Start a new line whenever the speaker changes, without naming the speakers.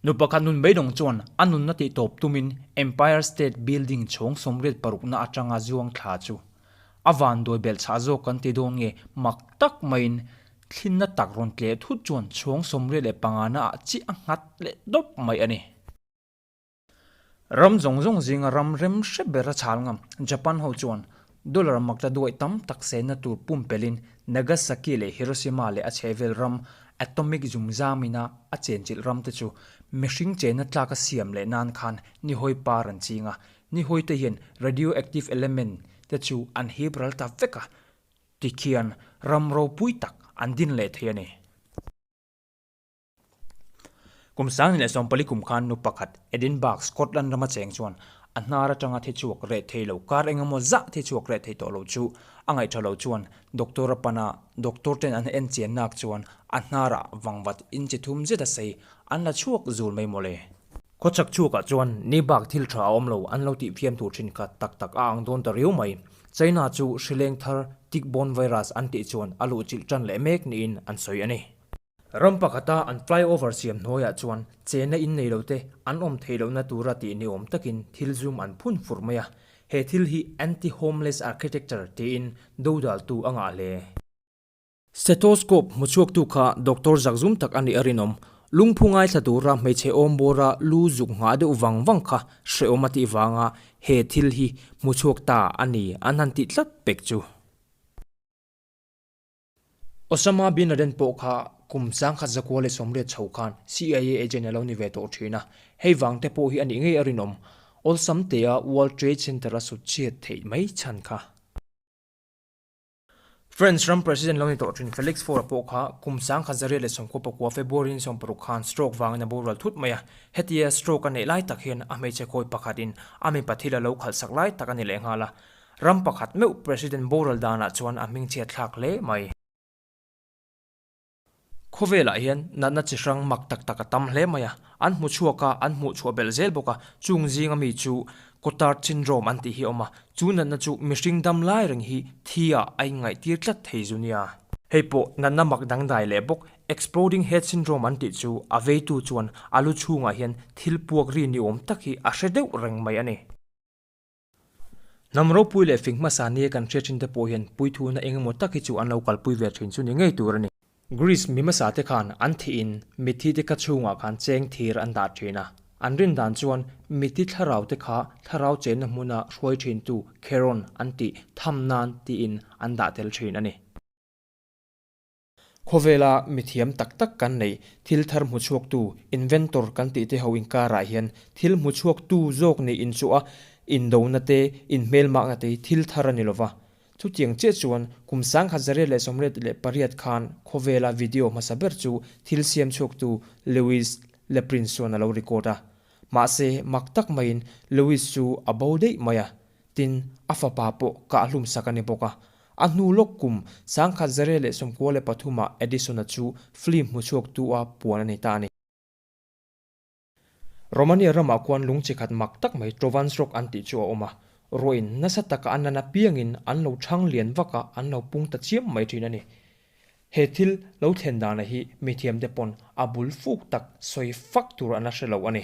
Nu pakhat nun beidawng chuan a nunna tih tawp tumin Empire State Building chhawng sawmriat parukna atanga zuang thla chu a van duai belh chhah zawk kan ti dawn nge mak tak maiin thlinna tak rawn tleh thut chuan chhawng sawmriat leh pangana ah chiah a nghat leh dawp mai a ni. Ram zawng zawng zinga ram rem hre ber a chhal ngam Japan ho chuan dollar mak ta duai tam tak senna tur pumpelhin Nagasaki leh Hiroshima leh a chhehvel ram atomic zumzamina a chenchilh ram te chu mihring chenna tlak a siam leh nan khan nihawi par an ching a, nihawi te hian radioactive element te chu an hip ral ta vek a tikhian ram ropui tak an din leh thei a ni. Kum Sangni leh Sawmpali kum khan nu pakhat Edinburgh, Scotland rama cheng chuan a hnar atanga thichhuak reh thei lo kar engemaw zah thichhuak reh thei tawh lo chu a ngaih tha lo chuan doctor-a pan a, doctor ten an en chian nak chuan a hnarah vangvat in chi thum zet a sei an la chhuak zul mai mawle. Khawchhak chhuakah chuan ni bak thil tha a awm lo an lo tih fiam tur thin kha tak tak a ang dawn ta riau mai. China chu hrileng thar tickborne virus an tih chuan a luh chilh tan leh mek niin an sawi a ni. Ram pakhata an flyover siam hnuaiah chuan chena in nei lote an awm thei lohna tura tih ni awm takin thil zum an phun fur mai a. He thil hi anti-homeless architecture tiin dodaltu a ngah hle. Stethoscope hmuchhuaktu kha doctor zak zum tak a nih a rinawm. Lungphu ngaithla tura hmeichhe awm bawra lu zuk nghah deuh vang vang kha hrehawm a tih vanga he thil hi hmuchhuak ta a ni an han tih tlat pek chu. Osama bin Laden pawh kha kum sangkhat zakua leh sawmriat chho khan CIA agent a lo ni ve tawh thin a, hei vang te pawh hi a nih ngei a rinawm awlsam te a World Trade Center a sutchhiat theih mai chhan kha. France ram president lo ni tawh thin Felix Faure pawh kha kum sangkhat zariat leh sawmkhua pakua February in sawm paruk khan stroke vangin a bural thut mai a, hetia stroke a neih lai tak hian a hmeichhe khawi pakhatin a mipa thil a lo khalhsak lai tak a ni leh nghal a, Ram pakhat meuh President boral danah chuan a hming chhiat thlak hle mai. Khawvelah hian natna chi hrang mak tak tak a tam hle mai a, an hmu chhuak a, an hmuh chhuah belh zel bawk a. Chung zinga mi chu Cotard syndrome an tih hi a awm a, chu natna chu mihring dam lai reng hi thiah a inngaihtir tlat thei zu nia. Hei pawh natna mak dangdai leh bawk, exploding head syndrome an tih chu a veitu chuan a lu chhungah hian thil puak ri ni awm tak hi a hre deuh reng mai a ni. Hnam ropui leh fing hmasa nia kan hria thin te pawh hian puithu na engemaw tak hi chu an lo kalpui ve thin chu ni ngei tur a ni. Greece mi hmasa te khan an thih in mitthi te kha chhungah khan cheng thir an dah thin a, an rin dan chuan mitthi thlarau te kha thlarau chenna hmuna hruai thin tu Kheron an tih tham nan tiin an dah tel thin a ni. Khawvela mithiam tak tak kan neih, thil thar hmu chhuaktu, inventor, kan tih te ho inkarah hian thil hmu chhuaktu zawk niin chu a indona te, inhmel makna te hi thil thar a ni lova. Chutiang chiah chuan kum sangha Zaria leh Sawmret leh pariat khan khawvela video hmasa ber chu thil siam chhuaktu Lewis Leprin chuan a lo record a. Mahse mak tak maiin Lewis chu a bo daih mai a, tin a fapa pawh kah hlumsak a ni bawk a. A hnu lawk kum, Sangkhat Zare leh Sawmkua leh Pathuma Edison-a chu film hmu chhuak tu-a puan a nei ta a ni. Romania ramah khuan lung chi khat mak tak mai Trovans Rock an tih chu a awm a, ruahin nasa taka an nan apiangin an lo chhang lian vaka an lo pung ta chiam mai thin a ni. He thil lo thlen dana hi mithiam te pawn a bul fuk tak sawi fak tur an la hre lo a ni.